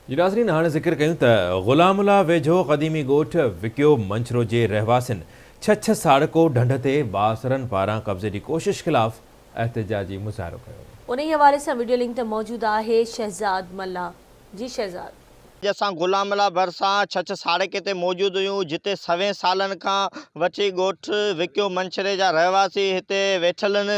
جي ناظرين هاڻي ذڪر ڪيون ته غلام الله ويجهو قديمي ڳوٺ وڪيو منڇرو جي رهواسين ڇڇ ساڙڪو ڍنڍ تي بااثرن پاران قبضي جي ڪوشش خلاف احتجاجي مظاهرو ڪيو. انهي حوالي سان وڊيو لنڪ تي موجود آهي شهزاد ملاح جي شهزاد. اڄ اسان غلام الله ڀرسان ڇڇ ساڙڪي تي موجود هيون جتي سوين سالن کان وٺي ڳوٺ وڪيو منڇري جا رهواسي هتي ويٺل هن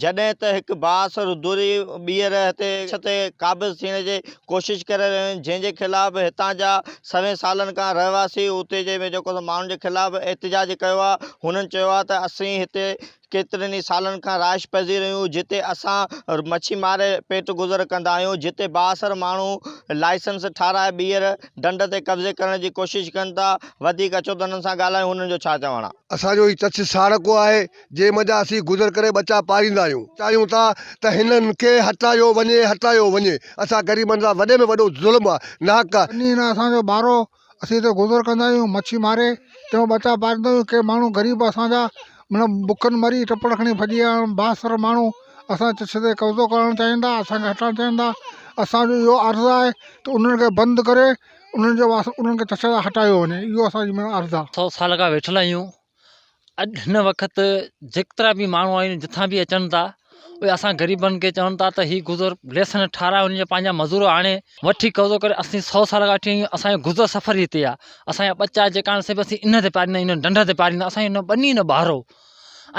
جڏهن ته هڪ بااثر دوري ٻيهر هتي ڇت تي قابض ٿيڻ جي ڪوشش ڪري رهيا آهن جنهن جي خلاف هتان جا سوين سالن کان رهواسي اتي جي ۾ جيڪو ماڻهن جي خلاف احتجاج ڪيو آهي هنن چيو آهي ته اسين هتي ڪيترن ئي سالن کان رهائش پذير آهيون جتي اسان مڇي ماري پيٽ گذر ڪندا آهيون جتي بااثر ماڻهو لائسنس ٺاراهي ٻيهر ڍنڍ تي قبضي ڪرڻ جي ڪوشش ڪن ٿا وڌيڪ اچو ته هنن سان ڳالهايون هنن جو ڇا چوڻ آهي. اسان جو هي تٿ ساڻ ڪو آهي. جنهن منجهان اسين گذر ڪري ٻچا پاريندا آهيون. چاهيون ٿا ته هنن کي هٽايو وڃي، هٽايو وڃي. اسان غريبن سان وڏي ۾ وڏو ظلم آهي، ناحق آهي. ٻني نه اسان جو ٻارو، اسين هتي گذر ڪندا آهيون، مڇي ماري تنهن مان ٻچا پاريندا آهيون. ڪي ماڻهو غريب اسان جا من بکن مري ٽپڙ کڻي ڀڄي ويا آهن. بااثر ماڻهو اسان جي چشت تي قبضو ڪرڻ چاهين ٿا، اسان کي هٽائڻ چاهين ٿا. اسان جو اهو عرض آهي ته انهن کي بند ڪري انهن جي واسطي انهن کي چشت تان هٽايو وڃي، اهو اسان جي معنيٰ عرض آهي. سؤ سال کان ويٺل آهيون، اڄ هن وقت جيڪترا به ماڻهو آهن جتان به اچن ٿا اهي اسان غريبن کي چون ٿا ته هي گذر ليسن ٺاهرايو ان جا پنهنجا مزور آڻي وٺي قبضو ڪري اسين سو سال کان وٺي اسان جو گذر سفر ئي هتي آهي اسانجا ٻچا جيڪا آهن سي به اسين ان تي پاريندا آهيون ان ڍنڍ تي پاريندا اسان جو ٻني نه ٻهارو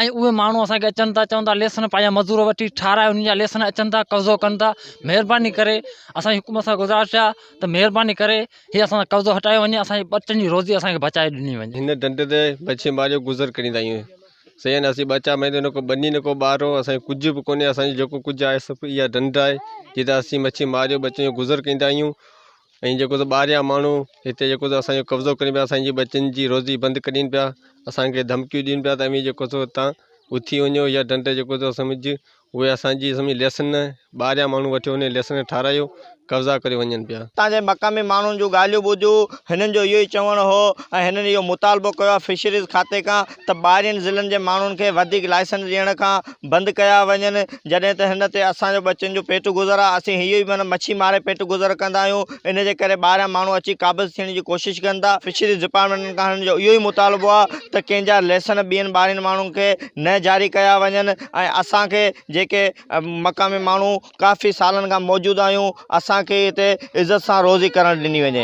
۽ اهي ماڻهو اسان کي اچن ٿا چون ٿا ليسن پنهنجا مزور وٺي ٺاهرايو ان جا ليسن اچن ٿا قبضو ڪن ٿا مهرباني ڪري اسانجي حڪومت سان گذارش آهي ته مهرباني ڪري هي اسان کان قبضو هٽايو وڃي اسان جي ٻچن جي روزي اسان کي بچائي ڏني وڃي. هن ڍنڍ تي مڇي ماريو گذر ڪريندا آهيون سيان اسين ٻچا ميندو نه ڪو ٻني نه ڪو ٻارو اسان کي ڪجهه به ڪونهي اسان جو جيڪو ڪجهه آهي سڀ اها ڍنڍ آهي جتي اسين مڇي ماريو ٻچن جو گذر ڪريندا آهيون ۽ جيڪو سو ٻاهريان ماڻهو هتي جيڪو سو اسان جو قبضو ڪرين پيا اسان جي ٻچن جي روزي بند ڪرين پيا اسان کي ڌمڪيون ڏين پيا ته اوهين جيڪو سو هتان اٿي وڃو اها ڍنڍ جيڪو سو سمجهه اهي اسان جي اسمي ليسن ٻاهريان ماڻهو وٺي وڃي ليسن ٺارايو قبضا ڪري وڃن پيا. اتان جي مقامي ماڻهن جون ڳالهيون ٻڌيون هنن جو اهو ئي چوڻ هو ۽ هنن اهو مطالبو ڪيو آهي فشريز کاتي کان ته ٻاهرين ضلعن جي ماڻهن کي وڌيڪ لائسنس ڏيڻ کان بند ڪيا وڃن جڏهن ته هن تي اسان جو ٻچن جو پيٽ گذر آهي اسين اهو ئي معنيٰ مڇي ماري پيٽ گذر ڪندا آهيون ان جي ڪري ٻاهريان ماڻهو اچي قابض ٿيڻ جي ڪوشش ڪن ٿا فشريز ڊپارٽمينٽن کان هنن جو اهو ئي مطالبو آهي ته ڪنهن جا ليسن ٻين ٻاهرين ماڻهن کي نه جاري ڪيا وڃن. ۽ اسان کي جيڪي مقامي ماڻهو ڪافي سالن کان موجود آهيون اسان کي هتي عزت سان روزي ڪرڻ ڏني وڃي